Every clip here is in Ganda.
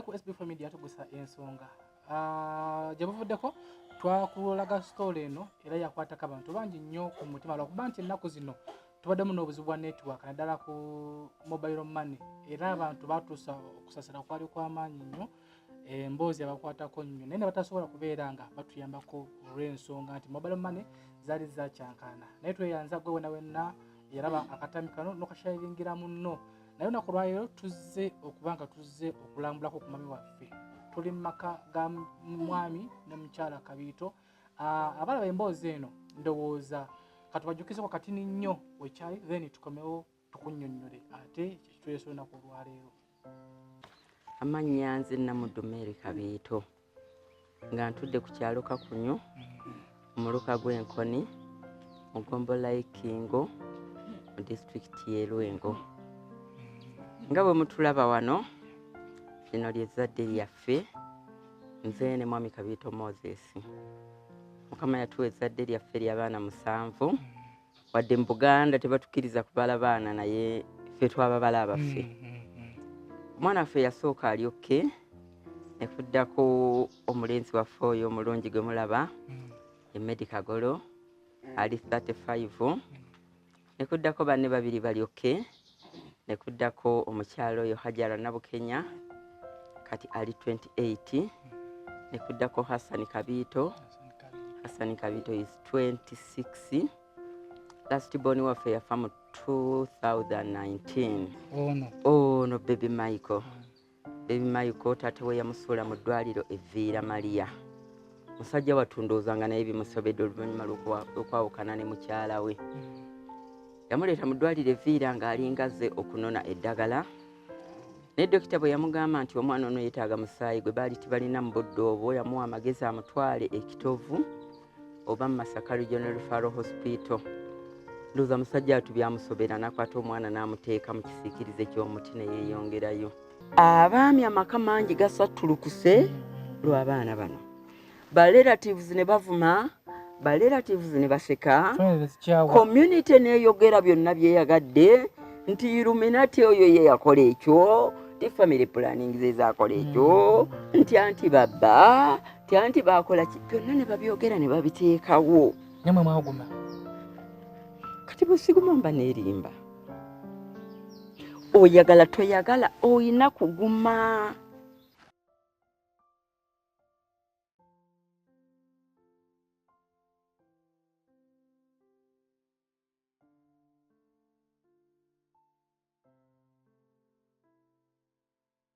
ku sb family yatugusa ensonga ah, gye buvuddeko twakulaga sitoola eno era yakwatako abantu bangi nnyo ku mutima lwakuba nti ennaku zino tubaddemu n'obuzibu bwa network naddala ku mobile money era abantu batuusa okusasira kwali kwamaanyi nnyo emboozi abakwatako nnyo naye nebatasobola kubeera nga batuyambako olw'ensonga nti mobile money zaali zakyankaana naye tweyanza gwe wena wenna yaraba akatami kano nokashayiringira munno naye olunaku olwaleero tuzze okuba nga tuzze okulambulako ku mwami waffe tuli mu maka ga mwami ne mukyala kabiito ah, abalaba emboozi eno ndowooza katubajjukizeko katini nnyo wekyali then tukomewo tukunyonnyole ate kyekituleesa olunaku olwaleero amannya nze namudumeeri kabiito nga ntudde ku kyalo kakunyu omuluka gw'enkoni mu gombola y'ikingo mu disitulikiti y'e lwengo nga bwe mutulaba wano lino lyezzadde lyaffe nze ne mwami kabiito moses mukama yatuwa ezzadde lyaffe ly'abaana musanvu wadde mu buganda tebatukiriza kubala baana naye fe twababala abaffe mm, mm, mm. omwana waffe yasooka ali okke nekuddako omulenzi waffe oyo omulungi gwe mulaba emedi kagolo ali 35 nekuddako banne babiri bali okke ne kuddako omukyala oyo hajara nabukenya kati ali 28 ne kuddako hassan kabiito hassan kabiito is 26 last born waffe yafa mu 2019 ono bebi michael mm. Baby Michael taata we yamusuula mu ddwaliro evviira Maria. Musajja wattu ndowooza nga naye bimusobedde oluvannyuma lw'okwawukana ne mukyala we. Yamuleeta mu ddwaliro evviira ng'alinga azze okunona eddagala. Naye dokita bwe yamugamba nti omwana ono yeetaaga musaayi gwe baali tibalina mu budde obwo yamuwa amagezi amutwale ekitovu. oba mu masaka regional referral hospital ndoza musajja atu byamusobera nakwata omwana n'amuteeka mu kisiikirize ky'omuti ne yeeyongerayo abaami amaka mangi gasattulukuse lw'abaana bano ba relatives ne bavuma ba relatives ne baseka community neeyogera byonna byeyagadde nti iluminati oyo ye yakola ekyo ti family planning zezakola ekyo mm. nti anti babba Tanti baakola ki byonna ne babyogera ne babiteekawo. Namwe mwaguma. Kati bwe siguma mba neerimba. Oyagala toyagala olina kuguma.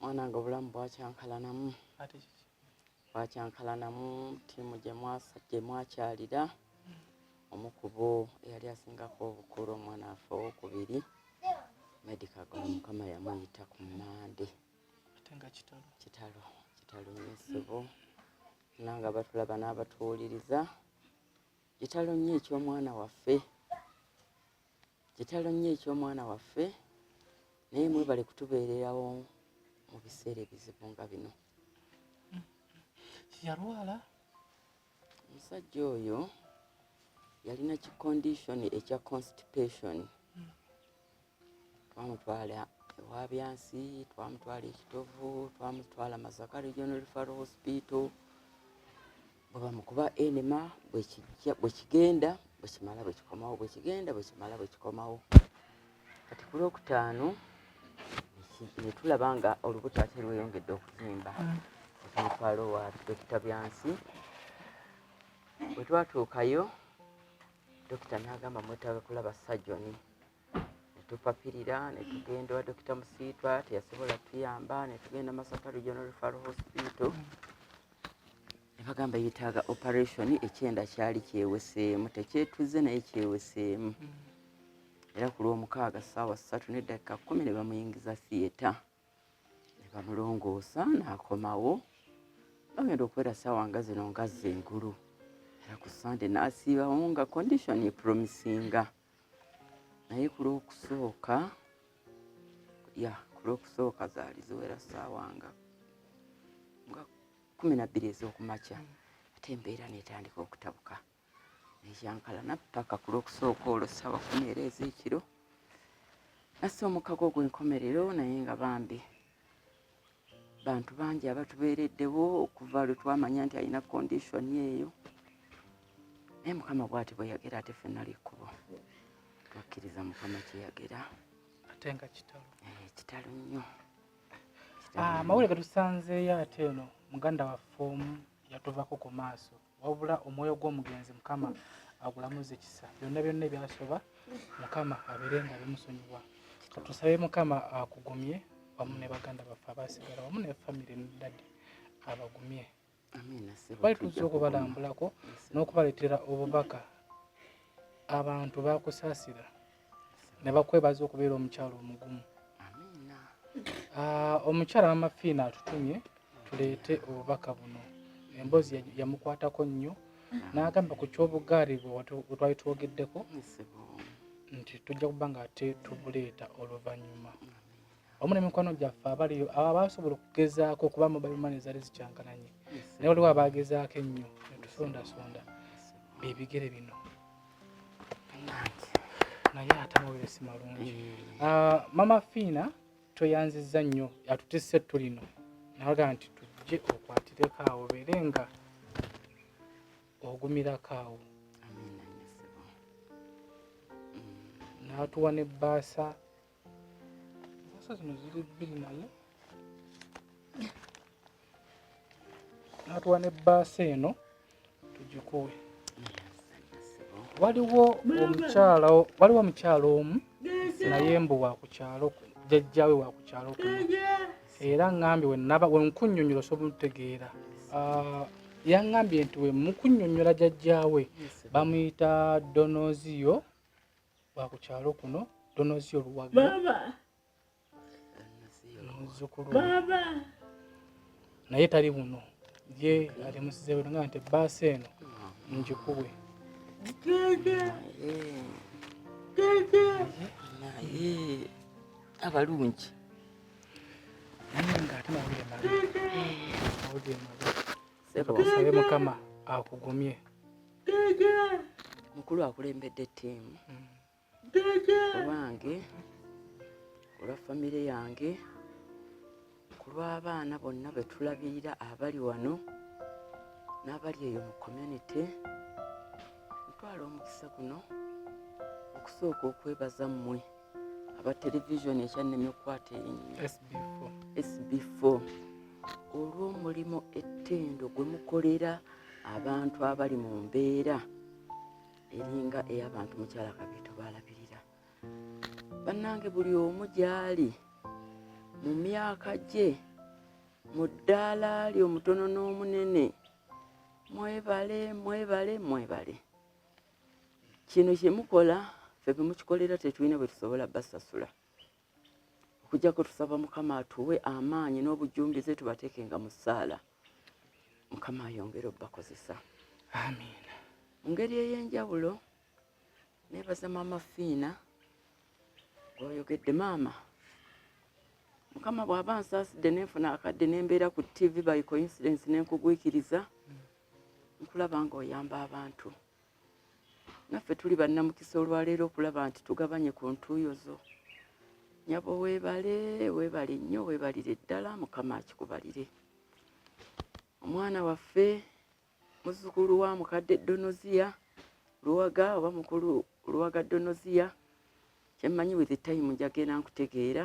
mwanange obulamu bwakyankalanamu bwakyankalanamu tiimu gyemwakyalira omukubo eyali asingako obukulu omwana afe owokubiri medicago mukama yamuyita ku mande kitalo kitalo nyesibo nanga batulaba n'abatuwuliriza kitalo nnyo eky'omwana waffe Kitalo nnyo eky'omwana waffe naye mwebale kutubeererawo mu biseera ebizibu nga bino. Yalwala omusajja oyo yalina ki condition ekya constipation hmm. twamutwala ewa byansi twamutwala ekitovu twamutwala masaka regional referral hospital bweba mukuba enema bwekigenda bwekimala bwekikomawo bwekigenda bwekimala bwekikomawo kati ku lwokutaano netulaba nga olubuto ate lweyongedde okuzimba mm. omutwalo wa dokita byansi bwetwatuukayo dokita nagamba mwetaga kulaba sajoni netupapirira netugenda wa dokita musiitwa teyasobola tuyamba netugenda masaka regional refal hospital nebagamba yetaaga operation ekyenda kyali kyeweseemu tekyetuze naye kyeweseemu era ku lwomukaaga saawa ssatu neddakika kumi nebamuyingiza theatre nebamulongoosa nakomawo bagenda okubeera saawa nga zino ngazze engulu era ku sande nasiibawo nga condition epromisinga naye ku lwokusooka ya ku lwokusooka zaali ziwera saawa nga nga kumi nabbiri ez'okumakya ate embeera netandika okutabuka ekyankala nappaka ku lwokusooka olwo saawa kumi era ez'ekiro nassa omukago ogwenkomerero naye nga bambi bantu bangi abatubeereddewo okuva lwe twamanya nti alina kondishoni eyo naye mukama bwati bweyagera ate fenna lyekkubo twakkiriza mukama kyeyagera ate nga kitalo eh, kitalo nnyo ah, amawulire getusanzeeyo ate eno muganda waffe omu yatuvako ku maaso wabula omwoyo gw'omugenzi mukama agulamuze kisa byonna byonna ebyasoba mukama abeere nga bimusonyiwa tusabe mukama akugumye wamu ne baganda baffe abasigala wamu ne famire dadi abagumye bali tuzza okubalambulako n'okubaleetera obubaka abantu bakusaasira ne bakwebaza okubeera omukyalo omugumu ah, omukyala mama fiina atutumye tuleete obubaka buno emboozi yamukwatako nnyo n'agamba ku kyobugaali bwe twali twogeddeko nti tujja kuba nga ate tubuleeta oluvannyuma wamu nemikwano gyaffe abaliyo abo abasobola okugezaako okuba mobile money zali zikyankananye naye waliwo abagezaako ennyo netusondasonda bebigere bino naye ate amawere si malungi mm. ah, mama fiina tweyanziza nnyo atutisse ettu lino nawaga nti tujje okwatireko awo beere nga ogumirako awo mm. natuwa ne baasa Sasa zino ziri bbiri naye natuwa ne bbaasa eno tugikuwe. Waliwo omukyala waliwo omukyala omu naye mbu wa ku kyalo jjajjaawe wa ku kyalo kuno era ŋŋambye wenaba wenkunnyonnyola osobola olutegeera ah, yaŋŋambye nti we mukunnyonnyola jjajjaawe bamuyita donoziyo wakukyalo kuno donozi oluwaga muzukulu naye tali buno ye ali musizewe nga nti baasi eno njikuwe abalungi naye nga ate mawulire mabi mawulire mabi sebo kasabe mukama akugumye mukulu akulembedde ttiimu owange olwa famire yange ku lw'abaana bonna be tulabirira abali wano n'abali eyo mu community ntwala omukisa guno okusooka okwebaza mmwe aba televisioni ekyannemye okukwata erinnya sb4 olw'omulimu ettendo gwe mukolera abantu abali mu mbeera eringa ey'abantu mukyala kabiito baalabirira bannange buli omu gy'ali mu myaka gye mu ddaala lye omutono n'omunene mwebale mwebale mwebale kino kyemukola fe bemukikolera tetulina bwetusobola basasula okujjako tusaba mukama atuwe amaanyi n'obujumbize tubatekenga mu ssaala mukama ayongere obubakozesa amiina mu ngeri ey'enjawulo nebaza maama fiina gwoyogedde maama mukama bw'aba nsaasidde nenfuna akadde nembeera ku ttivi by coincidence nenkugwikiriza nkulaba nga oyamba abantu naffe tuli bannamukisa olwaleero okulaba nti tugabanye ku ntuuyo zo nyabo webale webale nnyo webalire ddala mukama akikubalire omwana waffe muzzukulu wa mukadde donoziya luwaga oba mukulu luwaga donoziya kyemmanyi with time njagenda nkutegeera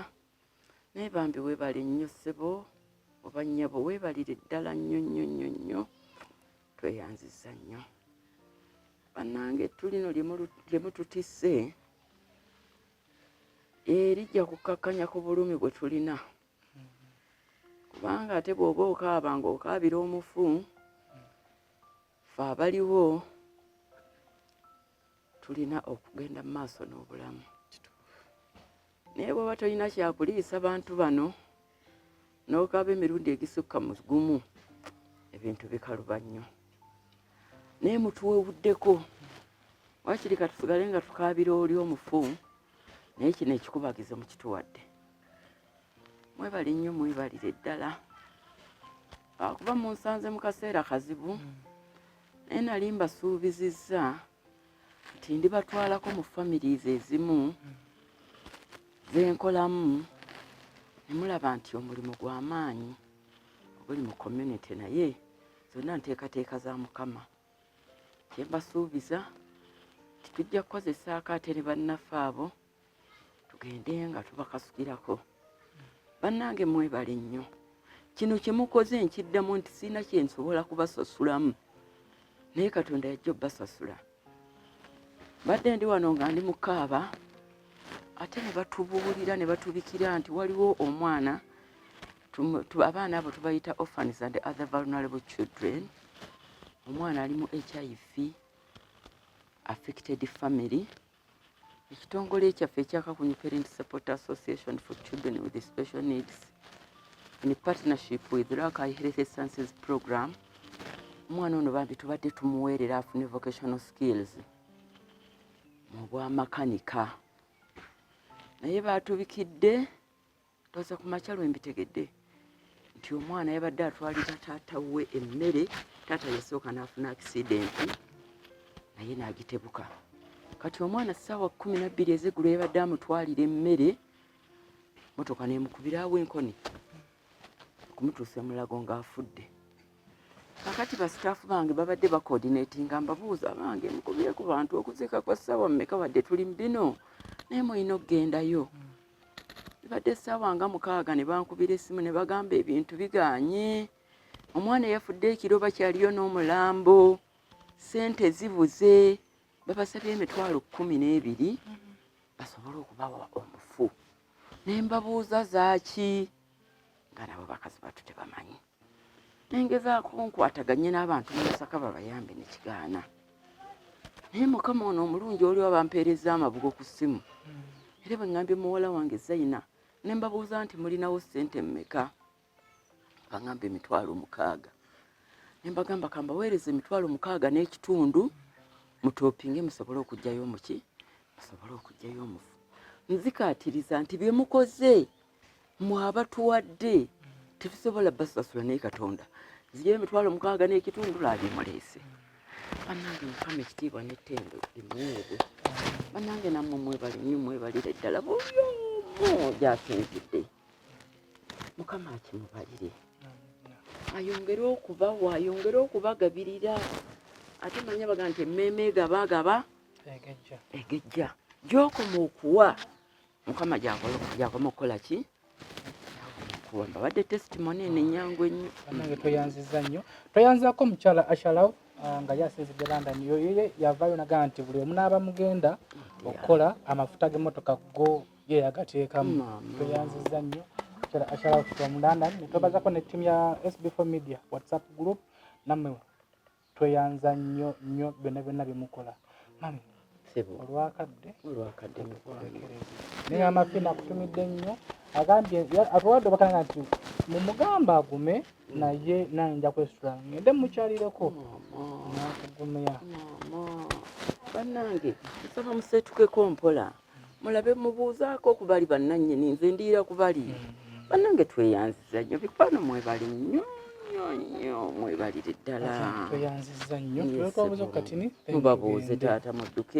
naye bambi webale nnyo ssebo oba nnyabo webalire ddala nnyo nnyo nnyo nnyo tweyanziza nnyo bannange tulino lye mututisse erijja eh, kukkakkanya ku bulumi bwe tulina kubanga ate bw'oba okaaba ng'okaabira omufu fe abaliwo tulina okugenda mu maaso n'obulamu naye bwaba tolina kyakuliisa bantu bano n'okaaba emirundi egisukka mu gumu ebintu bikaluba nnyo naye mutuwewuddeko wakiri katusigale nga tukaabira oli omufu naye kino ekikubagizo mukituwadde mwebale nnyo mwebalire ddala akuba munsanze mu kaseera kazibu naye nali mbasuubizizza nti ndibatwalako mu families ezimu zenkolamu nemulaba nti omulimu gwa maanyi oguli mu community naye zonna nteekateeka za mukama kyembasuubiza nti tujja kukozesa akaate ne bannaffe abo tugende nga tubakasukirako bannange mwebale nnyo kino kyemukoze nkiddamu nti sirina kyensobola kubasasulamu naye katonda yajja obbasasula badde ndi wano nga ndi mukaaba ate ne batubuulira ne batubikira nti waliwo omwana abaana abo tubayita orphans and other vulnerable children omwana ali mu hiv affected family ekitongole kyaffe ekya kakunyu parent support association for children with special needs in partnership with rakai healthy sciences program omwana ono bambi tubadde tumuweerera afune vocational skills mu bwamakanika naye baatubikidde ndoza ku makya lwe mbitegedde nti omwana yabadde atwalira taata we emmere taata yasooka n'afuna akisidenti naye n'agitebuka kati omwana ssaawa kumi nabbiri ezeggulo yabadde amutwalira emmere motoka nemukubiraawo enkoni okumutuusa emulago ng'afudde kakati basitaafu bange babadde bakoordinatinga mbabuuza bange mukubire ku bantu okuziika kwa ssaawa mmeka wadde tuli mu bino naye mulina okugendayo bibadde essaawa nga mukaaga ne bankubira essimu ne bagamba ebintu biganye omwana eyafudde ekiro bakyaliyo n'omulambo sente zibuze babasabye emitwalo kkumi n'ebiri basobole okubawa omufu ne mbabuuza zaaki nga nabo bakazi batu tebamanyi nengezaako nkwataganye n'abantu mumasaka babayambe nekigaana naye mukama ono omulungi oliwo bampeereza amabugo ku ssimu era bweŋambye muwala wange zaina ne mbabuuza nti mulinawo ssente mmeka baŋamba emitwalo mukaaga ne mbagamba kambaweereza emitwalo mukaaga n'ekitundu mutopinge musobole okugyayo muki musobole okugyayo omufu nzikaatiriza nti bye mukoze mwabatuwadde tetusobola basasula naye katonda ziri emitwalo mukaaga n'ekitundu laabimuleese banange mukama ekitiibwa n'ettendo limuweebwe banange namwe mwebali nyo mwebalire ddala buli omu gyasinzidde mukama akimubalire ayongere okubawa ayongere okubagabirira ate manya baga nti emmeeme egaba agaba egejja gyokoma okuwa mukama gyakoma okukola ki kuwamba badde testimony eno enyangu ennyo nange tweyanziza nnyo tweyanzako mukyala ashalaw ah, nga yasinzidde london yoye yavayo naga nti buli omunaaba mugenda okukola amafuta g'emmotoka go ye yagateekamu tweyanziza nnyo mukyala ashalaw from london netwebazako ne ttiimu ya sb4 media whatsapp group nammwe tweyanza nnyo nnyo byonna byonna byemukola mami olwakadde olwakadde naye amafi nakutumidde nnyo agambye atuwadde obakanga nti mumugamba agume naye naye nja kwesula ngende mukyalireko nakugumya banange nsaba musetukeko mpola mm. mulabe mubuuzaako ku bali bannannyini nze ndiira ku bali mm-hmm. bannange tweyanziza nnyo bikwano mwebali nnyo nnyo mwebalire ddala tweyanziza nnyo mubabuuze taata mudduke